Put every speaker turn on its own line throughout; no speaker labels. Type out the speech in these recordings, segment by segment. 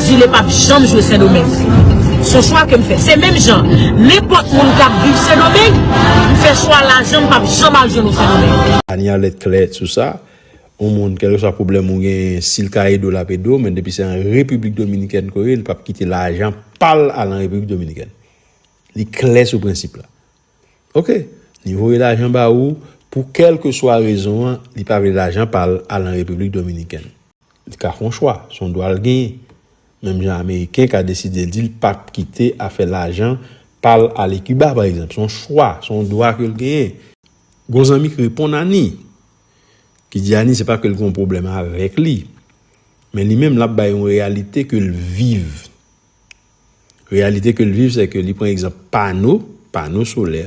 Zile pap janm jwe sendomeng. Son chwa kem fè. Se menm jan. Nenpòt moun kap viv sendomeng. M fè chwa lajan m pap janm al jwenn ou sendomeng. Ania lèd klè
sou sa. Yon moun kelke swa pwoblèm ou gen sil ka ede w lap ede w men depi se an repiblik dominikèn ke w ye li pap kite lajan pal al an repiblik dominikèn li klè sou prensip la ok li voye lajan ba ou pou kelke swa rezon an li pa vle lajan pal al an repiblik dominikèn. Li ka fè yon chwa, se yon dwa l genyen. Menm jan ameriken ka deside l di l pa p kite afè lajan pa l ale Kiba pa egzanp. Se yon chwa, se yon dwa ke l genyen. Gon zanmi ki reponn Ani, ki di Ani se pa ke l gen yon pwoblèm avèk li, men li menm l ap bay yon reyalite ke l viv. Reyalite ke l viv se ke li pran egzanp pano, pano solè,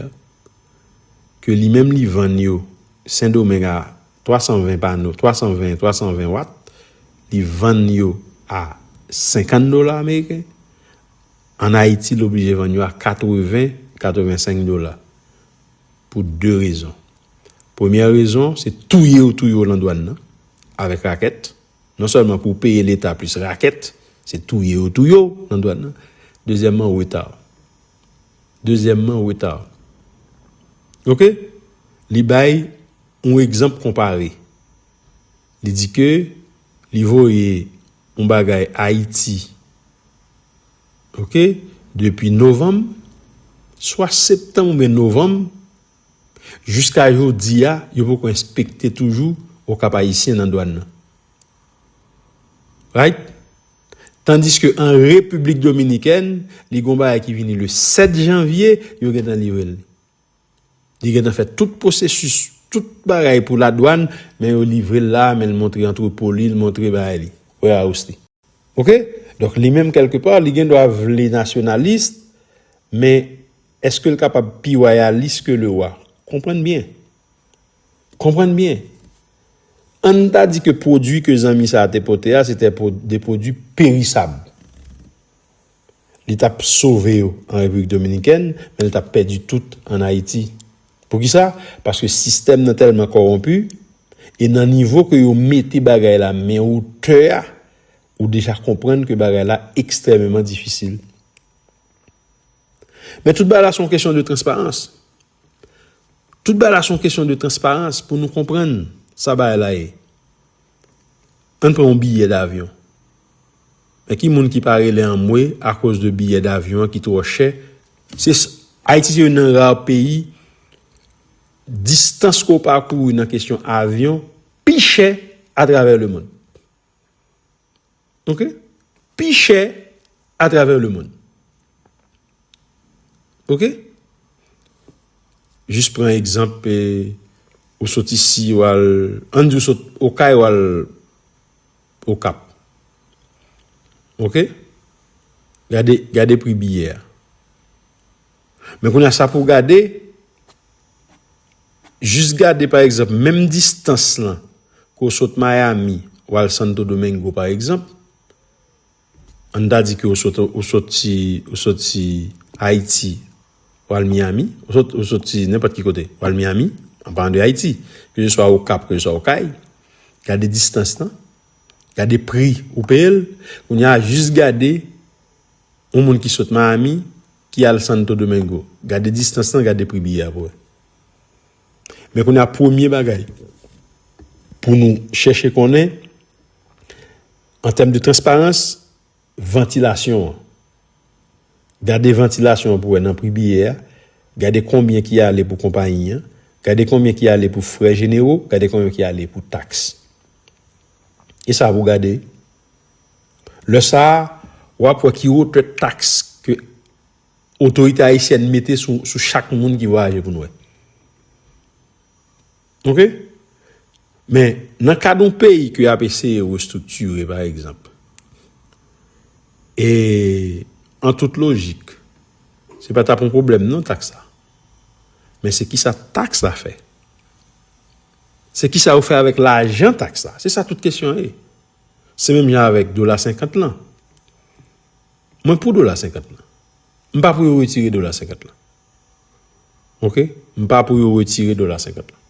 ke li menm li vann yo Sendomeng a 320 pano, 320, 320 watt, li vann yo a 50 dola ameriken, an Ayiti l oblije vann yo a 80, 85 dola, pou 2 rezon. Premyè rezon, se touye yo touye yo lan dwàn nan, avèk rakèt. Non sèlman pou w peye leta plis rakèt, se touye yo touye w nan dwàn nan. Dezyèmman reta. Dezyèmman reta. Ok? Li bay yon egzanp konpare. Li di ke li voye yon bagay Ayiti. Ok? Depi novanm, swa septanm oubyen novanm, Jiska jodi a, yo poko enspekte toujou Okap Ayisyen nan dwàn nan. Right? Tandiske an Repiblik Dominikèn, li gon bagay ki vini le 7 janvye, yo gen tan livre l. Li gen tan fè tout pwosesis, tout bagay pou ladwàn, men yo livre l la, men l montre antrepo li, l montre bagay li. Warehouse li. Ok donk li menm kèlke pa li gen dwa vle nasyonalis men eske l kapab pi wayalis ke lewa? Konprann byen. Konprann byen. An n ta di ke pwodui ke zanmi sa a te pote a se te de pwodui perisab. Li t ap sove yo an Repiblik Dominikèn, men l t ap pèdi tout an Ayiti. Poukisa? Paske sistèm nan tèlman kòwonpi, e nan nivo ke yo mete bagay la men wotè a, ou deja konprann ke bagay la ekstrèmeman difisil. Men tout bagay la se yon kesyon de transparans. Tout bagay la son kesyon de transparans pou nou konprann sa bagay la ye. Ann pran yon biyè davyon. Men ki moun ki pa rele anmwe akoz de biyè davyon an ki twò chè. Se Ayiti se youn nan ra peyi distans ke w pakouri nan kesyon avyon pi chè atravè lemonn. Ok pi chè a travè le moun ok jis pran egzanp pe ou sot isi ou al an di ou sot okay ou al okap ok gade gade pri biyè a. Men kounye a sa pou w gade, jis gade pa egzanp menm distans lan ke w sot Miami w al Santo Domingo pa egzanp, an n ta di ke w soti Ayiti w al Miami, ou soti nenpòt ki kote w al Miami, an palan de Ayiti, ke se swa Okap, ke se swa Okay, gade distans lan, gade pri ou peye l, kounye a jis gade. Yon moun ki sot Miami ki al Santo Domingo. Gade distans lan, gade pri biyè a pou wè. Men kounye a premye bagay pou nou chèche konnen an tèm de transparans vantilasyon an. Gade vantilasyon an pou wè nan pri biyè a, gade konbyen ki ale pou konpayi an, gade konbyen ki ale pou frè jenero, gade konbyen ki ale pou taks. E sa pou gade Lè sa a, w ap wè ki wotè taks ke otorite ayisyèn mete sou chak moun ki vwayaje pou nou wè. Ok? Men, nan kad yon peyi ke y ap eseye restriktire, pa egzanp, e an tout lojik, se pa t ap yon pwoblèm non taks la. Men se kisa taks la fè? Se kisa yo fè avèk lajan taks la? Se sa tout kesyon an ye. Se menm jan avèk dola senkant lan. Mwen pou dola senkant lan. M pa pou yo retire dola senkant lan. Ok? M pa pou yo retire dola senkant lan.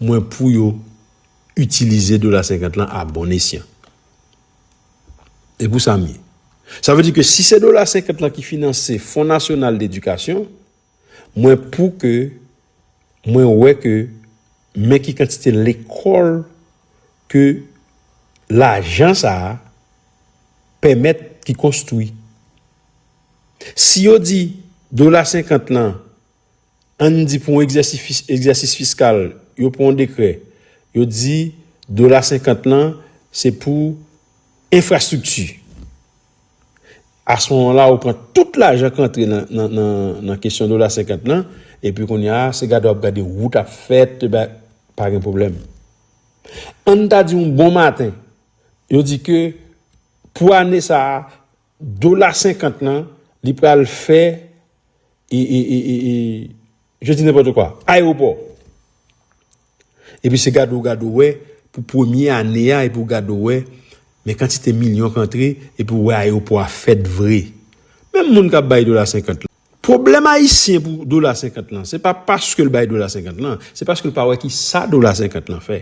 Mwen pou yo itilize dola senkant lan a bon esyan. E pou sa m ye. Sa vle di ke si se dola senkant lan ki finanse Fon Nasyonal Dedikasyon, Mwen pou ke mwen wè ke men ki kantite lekòl ke lajan sa a pèmèt ki konstwi. Si yo di dola senkant lan, ann di pou yon egzèsis fiskal, yo pran yon dekrè, yo di dola senkant lan se pou enfrastrikti. Asmoman la ou pran tout lajan k antre nan kesyon dola senkant lan epi kounye a se gade w ap gade wout ap fèt e bay pa gen pwoblèm. Ann ta di yon bon maten yo di ke pou ane sa a dola senkant lan li pral fè e e e e e je dis n'importe quoi ayewopò Epi se gade w gade w wè pou premye ane a epi w gade w wè men kantite milyon k antre epi w wè ayewopò a fèt vre. Menm moun k ap bay dola senkant lan. Pwoblèm ayisyen pou dola senkant lan se pa paske l bay dola senkant lan se paske l pa wè kisa dola senkant lan fè.